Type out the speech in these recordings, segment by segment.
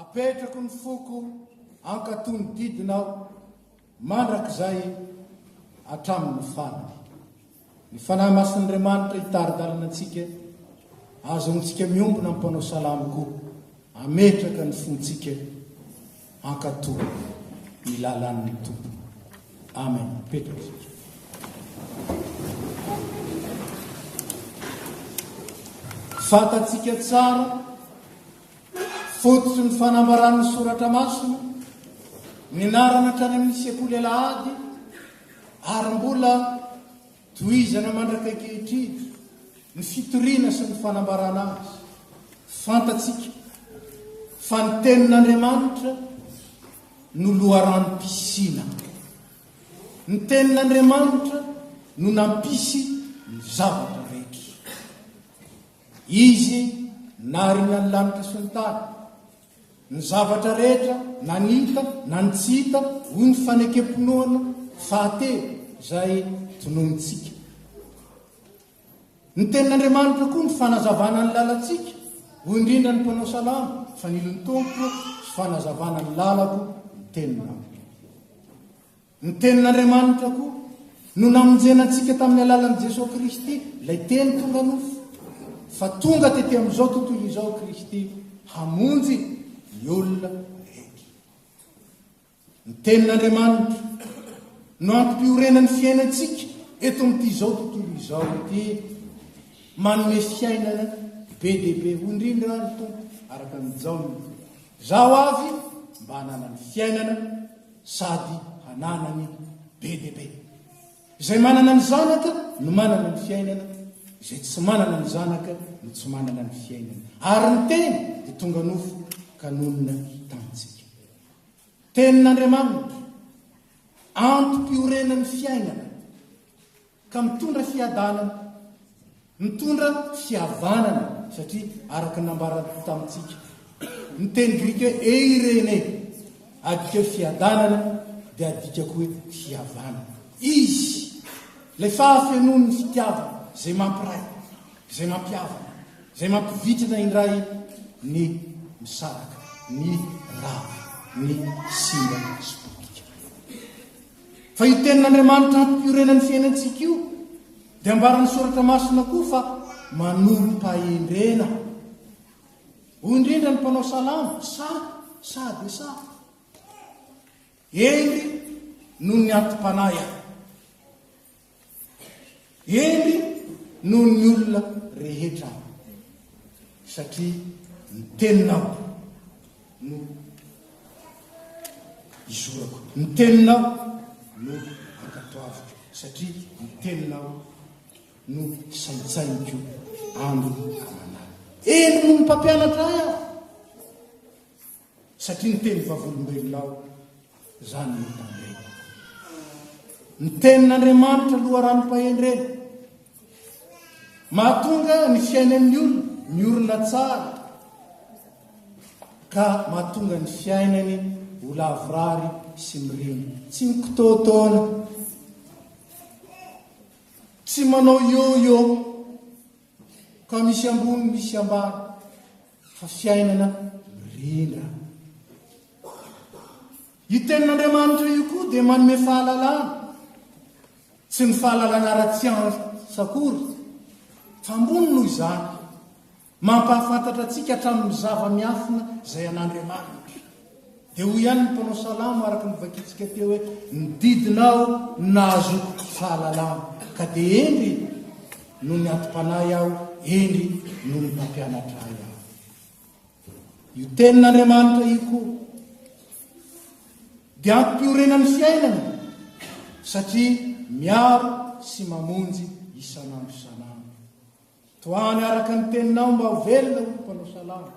Apetrako ny foko hankato ny didiny aho mandrakizay hatramin'ny farany. Ny Fanahy Masin'Andriamanitra hitari-dalana antsika, azontsika miombona amin'ny mpanao salamo koa hametraka ny fontsika Hankatò ny lalan'ny Tompo. Amen. Mipetraka isika. Fantatsika tsara fototsy ny fanambaran'ny soratra masina ny narana hatrany amin'ny sekoly alahady ary mbola Tohizana mandrak'ankehitriny ny fitoriana sy ny fanambarana azy. Fantatsika fa ny Tenin'Andriamanitra no loharanom-pisiana. Ny Tenin'Andriamanitra no nampisy ny zavatra rehetra. Izy narina ny lanitra sy ny tany. Ny zavatra rehetra, na ny hita na ny tsy hita, hoy ny fanekem-pinoana fahatelo izay tononontsika. Ny Tenin'Andriamanitra koa no fanazavana ny lalantsika, hoy indrindra ny mpanao salamo, fanilon'ny Tompo, fanazavana ny lalako ny teninao. Ny Tenin'Andriamanitra koa no namonjena antsika tamin'ny alalan'i Jesoa Kristy, ilay Teny tonga nofo. Fa tonga tety amin'izao tontolo izao Kristy hamonjy ny olona rehetra. Ny Tenin'Andriamanitra no antom-piorenan'ny fiainantsika eto amin'ity izao tontolo izao ity, manome fiainana be dia be. Hoy indrindra ny Tompo araka ny Jaona, Izaho avy mba hananany fiainana, sady hananany be dia be. Izay manana ny zanaka no manana ny fiainana, izay tsy manana ny zanaka no tsy manana ny fiainana. Ary ny teny dia tonga nofo ka nonina tamintsika. Tenin'Andriamanitra, antom-piorenan'ny fiainana. Ka mitondra fiadanana, mitondra fihavanana, satria araka ny nambarako tamintsika, ny teny grika hoe eirene, adika hoe fiadanana, dia adika koa hoe fihavanana. Izy, ilay fahafenoan'ny fitiavana, izay mampiray, izay mampihavana, izay mampivitrana indray ny misaraka, ny rava, ny simba sy potika. Fa io tenin'Andriamanitra hampiorenan'ny fiainantsika io dia ambaran'ny soratra masina koa fa manorim-pahendrena. Hoy indrindra ny mpanao salamo, sa, sa dia sa. Eny noho ny atim-panahy aho. Hery noho ny olona rehetra aho, satria ny Teninao no izorako, ny Teninao no ankatoaviko, satria ny Teninao no saintsainiko andro aman'alina. Hery noho ny mpampianatra ahy aho. Satria niteny vavolombelona aho, izany no hitandremako. Ny tenin'Andriamanitra loharanom-pahendrena. Mahatonga ny fiainan'ny olona miorina tsara, ka mahatonga ny fiainany ho lavorary sy mirina. Tsy mikitaotaona, tsy manao yo-yo. Ka misy ambony misy ambany fa fiainana mirindra. Io tenin'Andriamanitra io koa dia manome fahalalana, tsy ny fahalalana ara-tsiansa akory, fa ambony noho izany, mampahafantatra antsika hatramin'ny zava-miafina izay an'Andriamanitra. Dia hoy ihany ny mpanao salamo araka ny vakintsika teo hoe, Ny didinao no nahazoako fahalalana, ka dia hendry no niantom-panahy aho, hendry no ny mpampianatra ahy aho. Io tenin'Andriamanitra io koa dia ampiorenan'ny fiainana satria miaro sy mamonjy isan'andro isan'andro. Tohano araka ny teninao mba ho velona hoy ny mpanao salamo.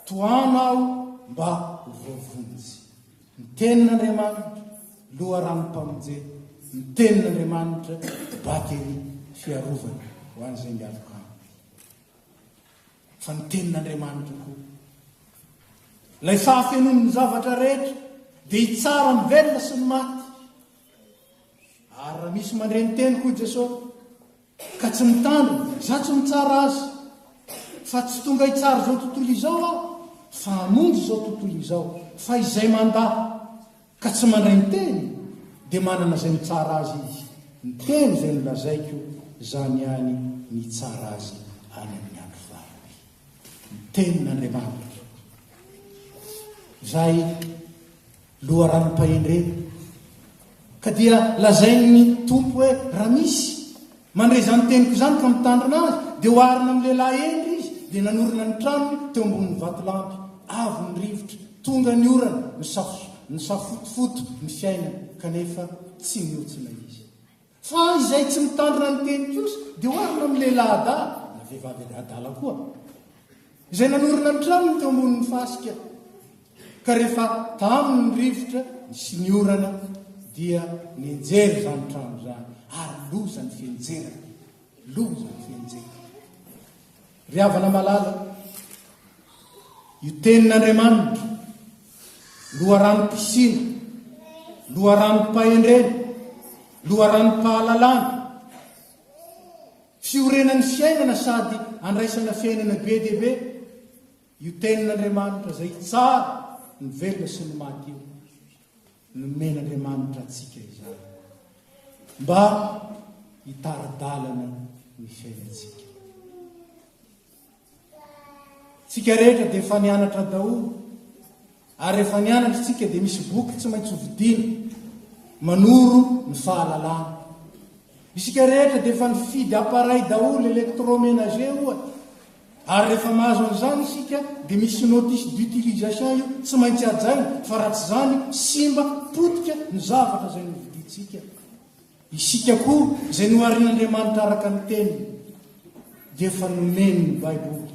Tohano aho mba ho voavonjy. Ny tenin'Andriamanitra, loharanom-pamonjena. Ny tenin'Andriamanitra, bateria fiarovana ho an'izay mialoka aminy. Fa ny tenin'Andriamanitra koa, ilay fahafenon'ny zavatra rehetra, dia hitsara ny velona sy ny maty. Ary raha misy mandre ny teniko, hoy Jesosy, Ka tsy mitandrina, za tsy mitsara azy fa tsy tonga hitsara izao tontolo izao aho fa hamonjy izao tontolo izao fa izay mandà ka tsy mandray ny teny dia manana izay mitsara azy izy, ny teny izay nolazaiko zany ihany ny hitsara azy any amin'ny andro farany. Ny tenin'Andriamanitra izay. loharanom-pahendrena. Ka dia lazain'ny Tompo hoe, Raha misy mandre izany teniko izany ka mitandrina azy, dia oharina amin'ny lehilahy hendry izy, dia nanorina ny tranony teo ambonin'ny vatolampy. Avo ny rivotra, tonga ny orana, nisafotofoto ny fiainany, kanefa tsy nihontsy ilay izy. Fa izay tsy mitandrina ny teny kosa dia oharina amin'ny lehilahy-adahy, na vehivavy-adahy adala koa, izay nanorina ny tranony teo ambonin'ny fasika, ka rehefa taminy ny rivotra sy ny orana dia nenjery izany trano izany, ary loza ny fihenjerany, loza ny fihenjerany. Ry havana malala, io tenin'Andriamanitra, loharanom-pisiana, loharanom-pahendrena, loharanom-pahalalana, fiorenan'ny fiainana sady andraisana fiainana be dia be. Io Tenin'Andriamanitra izay tsara, ny velona sy ny maty io, nomen'Andriamanitra antsika izany mba hitara-dalana ny fiainantsika. Tsika rehetra dia efa nianatra daholo Ary rehefa nianatra isika dia misy boky tsy maintsy hovidiana manoro ny fahalalana. Isika rehetra dia efa nifidy appareil daholo, electroménager ohatra. Ary rehefa mahazo an'izany isika dia misy notice d'utilisation io tsy maintsy hajaina fa raha tsy izany simba, potika ny zavatra izay novidintsika. Isika koa izay noharin'Andriamanitra araka ny Teniny dia efa nomeny ny Baiboly ho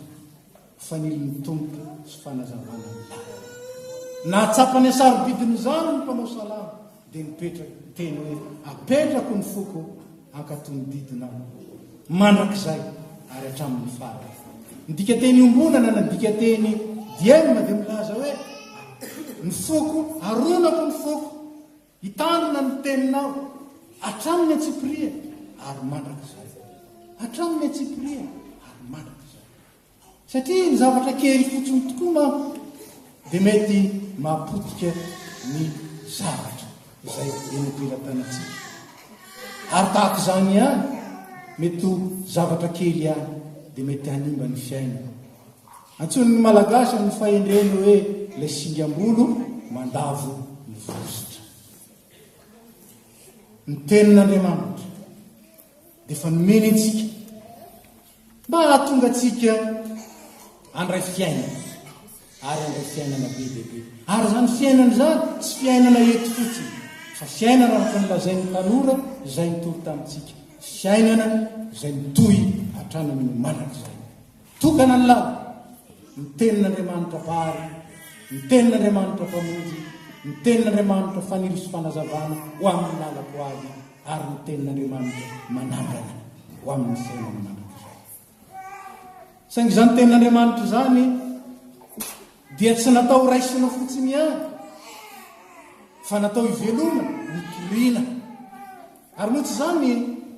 fanilin'ny Tompo sy fanazavana ny lalana. Nahatsapa ny hasarobidin'izany ny mpanao salamo dia nipetraka ny teny hoe apetrako ny foko hankatò ny didinao mandrakizay ary hatramin'ny farany. Ny dikateny iombonana na dikateny diema dia milaza hoe ny foko, aronako ny foko. Hitandrina ny teninao hatramin'ny an-tsipiriany ary mandrakizay. Hatramin'ny an-tsipiriany ary mandrakizay. Satria ny zavatra kely fotsiny tokoa manko dia mety mahapotika ny zavatra izay enompelatanantsika. Ary tahaka izany ihany, mety ho zavatra kely ihany dia mety hanimba ny fiainana. Antsoin'ny Malagasy amin'ny fahendreny hoe ilay singam-bolo mandavo ny vozitra. Ny Tenin'Andriamanitra dia efa nomeny antsika mba hahatonga antsika handray fiainana ary handray fiainana be dia be. Ary izany fiainana izany tsy fiainana eto fotsiny fa fiainana araka ny lazain'ny tanora izay nitory tamintsika, fiainana izay mitohy hatrany amin'ny mandrakizay. Tokana ny lavo, ny tenin'Andriamanitra Vary, ny tenin'Andriamanitra Mpamonjy, ny tenin'Andriamanitra Fanilo sy Fanazavana ho amin'ny lalako ho avy, ary ny tenin'Andriamanitra Manangana ho amin'ny fiainana mandrakizay. Saingy izany tenin'Andriamanitra izany dia tsy natao ho raisina fotsiny ihany, fa natao hivelomana, mikirina. Ary moa tsy izany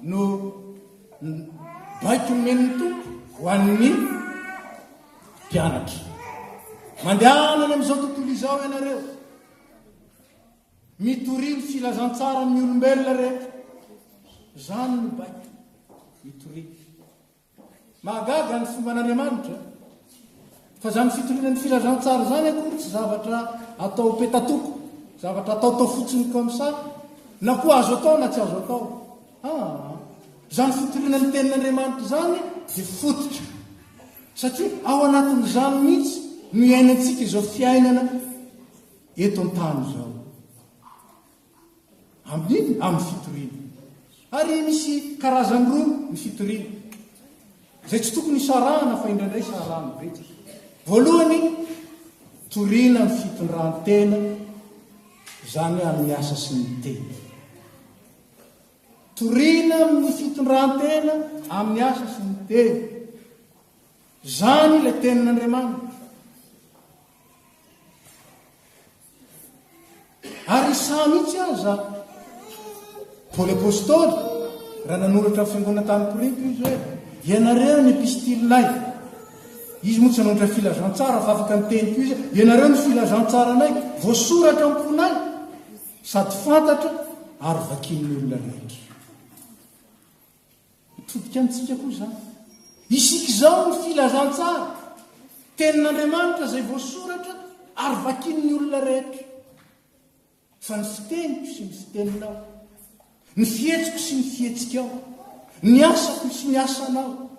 no Baiko nomen'ny Tompo ho an'ny mpianatra. Mandehana any amin'izao tontolo izao ianareo. Mitoria ny filazantsara amin'ny olombelona rehetra. Izany no baiko. Mitoria. Mahagaga ny fomban'Andriamanitra. Fa izany fitoriana ny filazantsara izany akory tsy zavatra atao petatoko, zavatra ataotao fotsiny comme ça, na koa azo atao na tsy azo atao. Ah, izany fitoriana ny tenin'Andriamanitra izany dia fototra. Satria ao anatin'izany mihitsy no iainantsika izao fiainana eto an-tany izao. Amin'inona? Amin'ny fitoriana. Ary misy karazany roa ny fitoriana, izay tsy tokony hisarahana fa indraindray sarahan'ny betsaka. Voalohany, toriana ny fitondran-tena, izany amin'ny asa sy ny tena. Toriana amin'ny fitondran-tena amin'ny asa sy ny tena. Izany ilay tenin'Andriamanitra. Ary Isa mihitsy aza, Paoly Apostoly, raha nanoratra ny fiangonana tany Korinto izy hoe, ianareo ny epistilinay. Izy moa tsy nanoratra filazantsara fa afaka niteny koa izy, ianareo ny filazantsaranay, voasoratra am-ponay, sady fantatra ary vakin'ny olona rehetra. Mitodika amintsika koa izany. Isika izao ny filazantsara, tenin'Andriamanitra izay voasoratra ary vakin'ny olona rehetra. Fa ny fiteniko sy ny fiteninao, ny fihetsiko sy ny fihetsikao, ny asako sy ny asanao,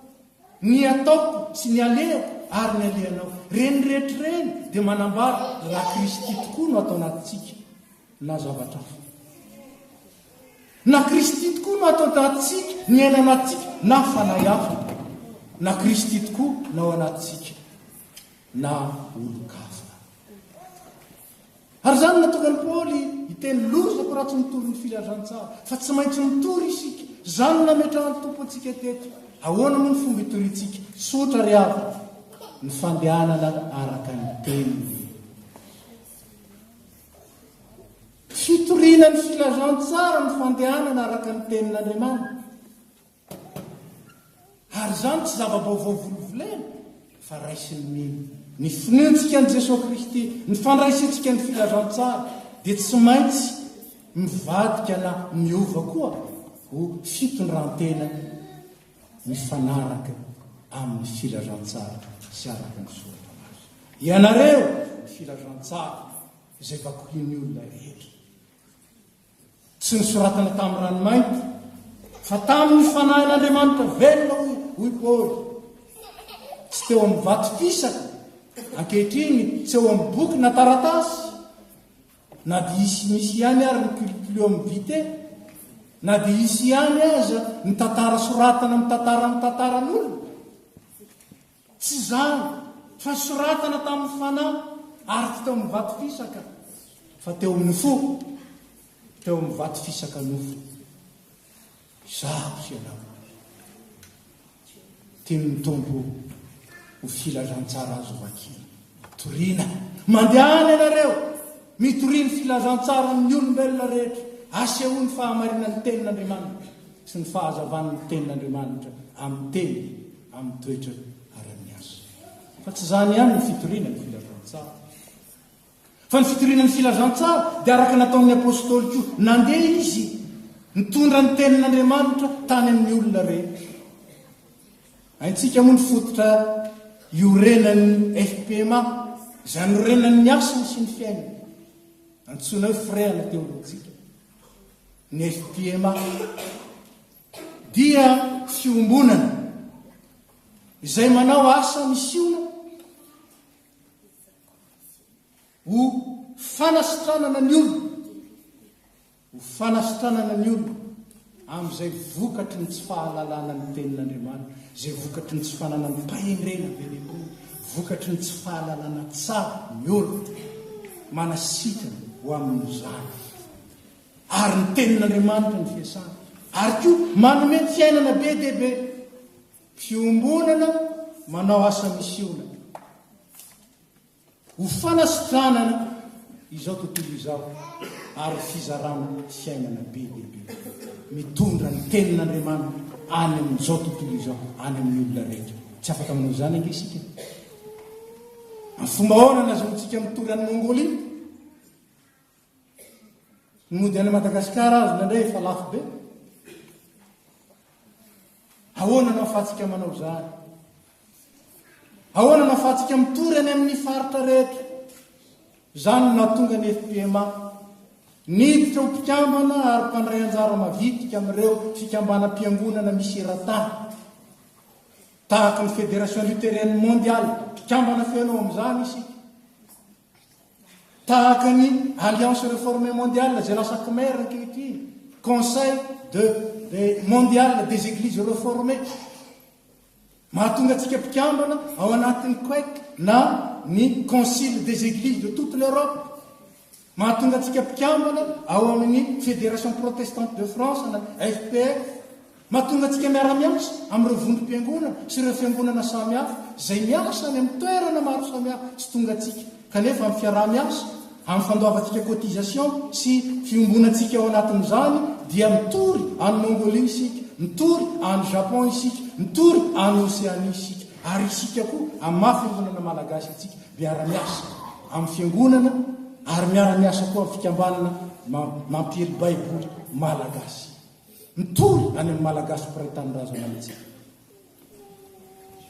ny ataoko sy ny alehako ary ny alehanao, ireny rehetra ireny dia manambara raha Kristy tokoa no ato anatintsika. na zavatra hafa. Na Kristy tokoa no ato an-tatsika, ny aina anatsika, na fanahy hafa. Na Kristy tokoa no ao anatsika, na olon-kafa. Ary izany natonga ny Paoly hiteny lozako raha tsy mitory ny filazantsara, fa tsy maintsy mitory isika. Izany nametrahan'ny Tompo antsika teto. Ahoana moa ny fomba itoriantsika? Sotra ry havana, ny fandehanana araka ny teniny. Fitoriana ny filazantsara ny fandehanana araka ny Tenin'Andriamanitra. Ary izany tsy zava-baovao volovolena, fa raisin'ny mino. Ny finoantsika an'i Jesoa Kristy, ny fandraisantsika ny filazantsara, dia tsy maintsy mivadika na miova koa ho fitondrantena mifanaraka amin'ny filazantsara sy araka ny Soratra Masina. Ianareo ny filazantsara izay vakohin'ny olona rehetra. Tsy nosoratana tamin'ny ranomainty, fa tamin'ny Fanahin'Andriamanitra velona, hoy, hoy Paoly. Tsy teo amin'ny vato fisaka, ankehitriny tsy eo amin'ny boky na taratasy, Na dia hisy misy ihany ary ny culpluum vitae, na dia hisy ihany aza ny tantara soratana mitantara ny tantaran'olona, tsy izany fa soratana tamin'ny fanahy ary tsy teo amin'ny vato fisaka fa teo amin'ny fo, teo amin'ny vato fisaka nofo. Izaho sy ianao. Tian'ny Tompo ho filazantsara azo vakiana. Toriana. Mandehana ianareo, mitoria ny filazantsaran'ny olombelona rehetra, asehoany fahamarinan'ny Tenin'Andriamanitra sy ny fahazavan'ny Tenin'Andriamanitra amin'ny teny, amin'ny toetra ary amin'ny asa. Fa tsy izany ihany ny fitoriana ny filazantsara. Fa ny fitoriana ny filazantsara dia araka nataon'ny Apostoly koa, nandeha izy nitondra ny tenin'Andriamanitra tany amin'ny olona rehetra. Haintsika moa ny fototra iorenan'ny FPMA, izay anorenan'ny asany sy ny fiainany. Antsoina hoe firehana teoloantsika. Ny FPMA dia fiombonana izay manao asa misiona Ho fanasitranana ny olona, ho fanasitranana ny olona amin'izay vokatry ny tsy fahalalana ny tenin'Andriamanitra, izay vokatry ny tsy fananan-pahendrena be dia be, vokatry ny tsy fahalalana tsara ny olona, manasitrana ho amin'izany. Ary ny tenin'Andriamanitra ny fiasana, ary koa manome fiainana be dia be. Fiombonana manao asa misiona. Ho fanasitranana izao tontolo izao ary ho fizarana fiainana be dia be. Mitondra ny Tenin'Andriamanitra any amin'izao tontolo izao, any amin'ny olona rehetra. Tsy afaka manao izany ange isika. Amin'ny fomba ahoana no ahazoantsika mitory an'i Mongolia? Ny mody any Madagasikara aza indraindray efa lafo be. Ahoana no ahafahantsika manao izany? Ahoana no ahafahantsika mitory any amin'ny faritra rehetra? Izany no nahatonga ny FPMA. Niditra ho mpikambana ary mpandray anjara mavitrika amin'ireo fikambanam-piangonana misy eran-tany. Tahaka ny Fédération Luthérienne Mondiale, mpikambana feno amin'izany isika. Tahaka ny Alliance Reformée Mondiale izay lasa Khmer ankehitriny, Conseil de de Mondial des Eglises Reformées. Mahatonga antsika mpikambana ao anatin'ny COEC na ny Concile des Eglises de toute l'Europe. Mahatonga antsika mpikambana ao amin'ny Fédération Protestante de France na FPF. Mahatonga antsika miara-miasa amin'ireo vondrom-piangonana sy ireo fiangonana samihafa izay miasa any amin'ny toerana maro samihafa tsy tongantsika, kanefa amin'ny fiaraha-miasa, amin'ny fandoavantsika cotisation sy fiombonantsika ao anatin'izany dia mitory any Mongolie isika, mitory any Japon isika, mitory any Océanie isika. Ary isika koa amin'ny maha fiangonana malagasy antsika miara-miasa amin'ny fiangonana ary miara-miasa koa amin'ny fikambanana mampiely baiboly malagasy. Mitory any amin'ny Malagasy mpiray tanindrazana mihitsy.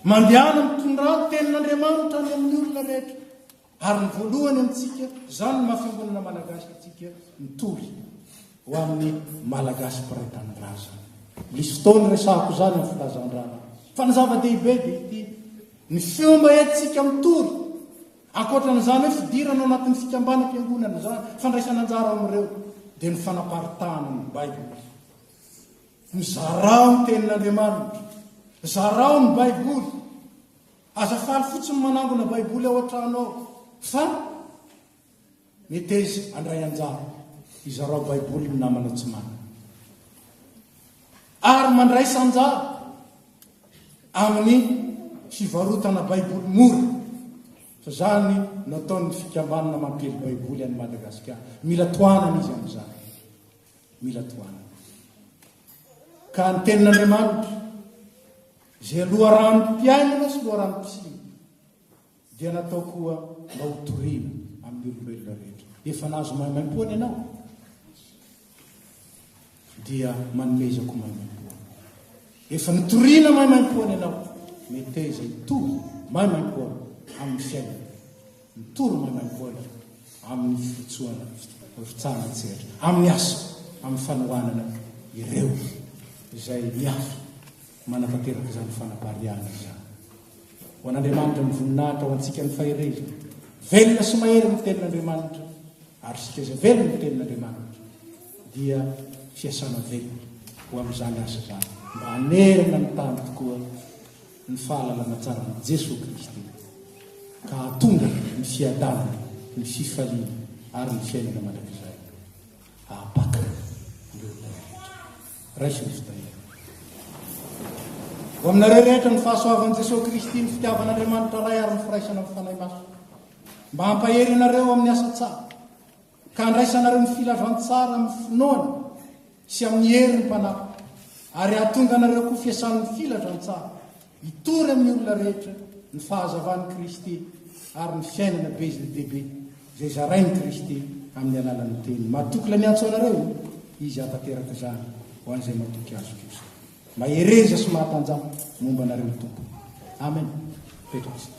Mandehana mitondrà ny tenin'Andriamanitra any amin'ny olona rehetra. Ary ny voalohany amintsika, izany ny maha-fiangonana Malagasy antsika, mitory ho amin'ny Malagasy mpiray tanindrazana. Misy fotoana resahako izany amin'ny filazandrana. Fa ny zava-dehibe dia ity, ny fomba entintsika mitory Ankoatran'izany hoe fidirana ao anatin'ny fikambanam-piangonana izany, fandraisana anjara ao amin'ireo dia ny fanaparitahana ny Baiboly. Mizarao ny tenin'Andriamanitra. Zarao ny Baiboly. Aza faly fotsiny manangona Baiboly ao an-trano ao, fa Meteza, Handray anjara. Hizarao Baiboly ny namana tsy manana. Ary mandraisa anjara amin'ny fivarotana Baiboly mora. Fa izany nataon'ny fikambanana mampiely Baiboly an'i Madagasikara. Mila tohanana izy amin'izany. Mila tohanana. Ka ny tenin'Andriamanitra, izay loharanom-piainana sy loharanom-pisiana, Dia natao koa mba ho toriana amin'ny olombelona rehetra. Efa nahazo maimaimpoana ianao? Dia manomezako maimaimpoana. Efa nitoriana maimaimpoana ianao? Meteza hitory maimaimpoana amin'ny fiainana. Mitory maimaimpoana amin'ny firotsoana, firotsahan an-tsehatra, amin'ny asa, amin'ny fanohanana ireo izay miafina. Manatanteraka izany fanapariahana izany. Ho an'Andriamanitra ny voninahitra, ho antsika ny faherezana. Velona sy mahery ny Tenin'Andriamanitra, ary isika izay velona ny Tenin'Andriamanitra dia fiasana velona ho amin'izany asa izany, mba hanerana ny tany tokoa ny fahalalana tsaran'i Jesoa Kristy, ka hahatonga ny fiadanana, ny fifaliana ary ny fiainana mandrakizay. Ahabatan'ny olona rehetra. Raisin'ny fitahiana. Ho aminareo rehetra ny fahasoavan'i Jesoa Kristy, ny fitiavan'Andriamanitra Ray ary ny firaisana amin'ny Fanahy Masina. Mba hampahery anareo amin'ny asa tsara, ka handraisanareo ny filazantsara amin'ny finoana sy amin'ny herin'ny Mpanahy, ary hahatonga anareo koa fiasan'ny filazantsara Hitory amin'ny olona rehetra ny fahazavan'i Kristy ary ny fiainana be dia be izay zarain'i Kristy amin'ny alalan'ny Teniny. Matoky ilay miantso anareo io. Izy hahatanteraka izany ho an'izay matoky Azy kosa. Mahereza sy mahatanjaha momba anareo ny Tompo. Amen. Petraka isika.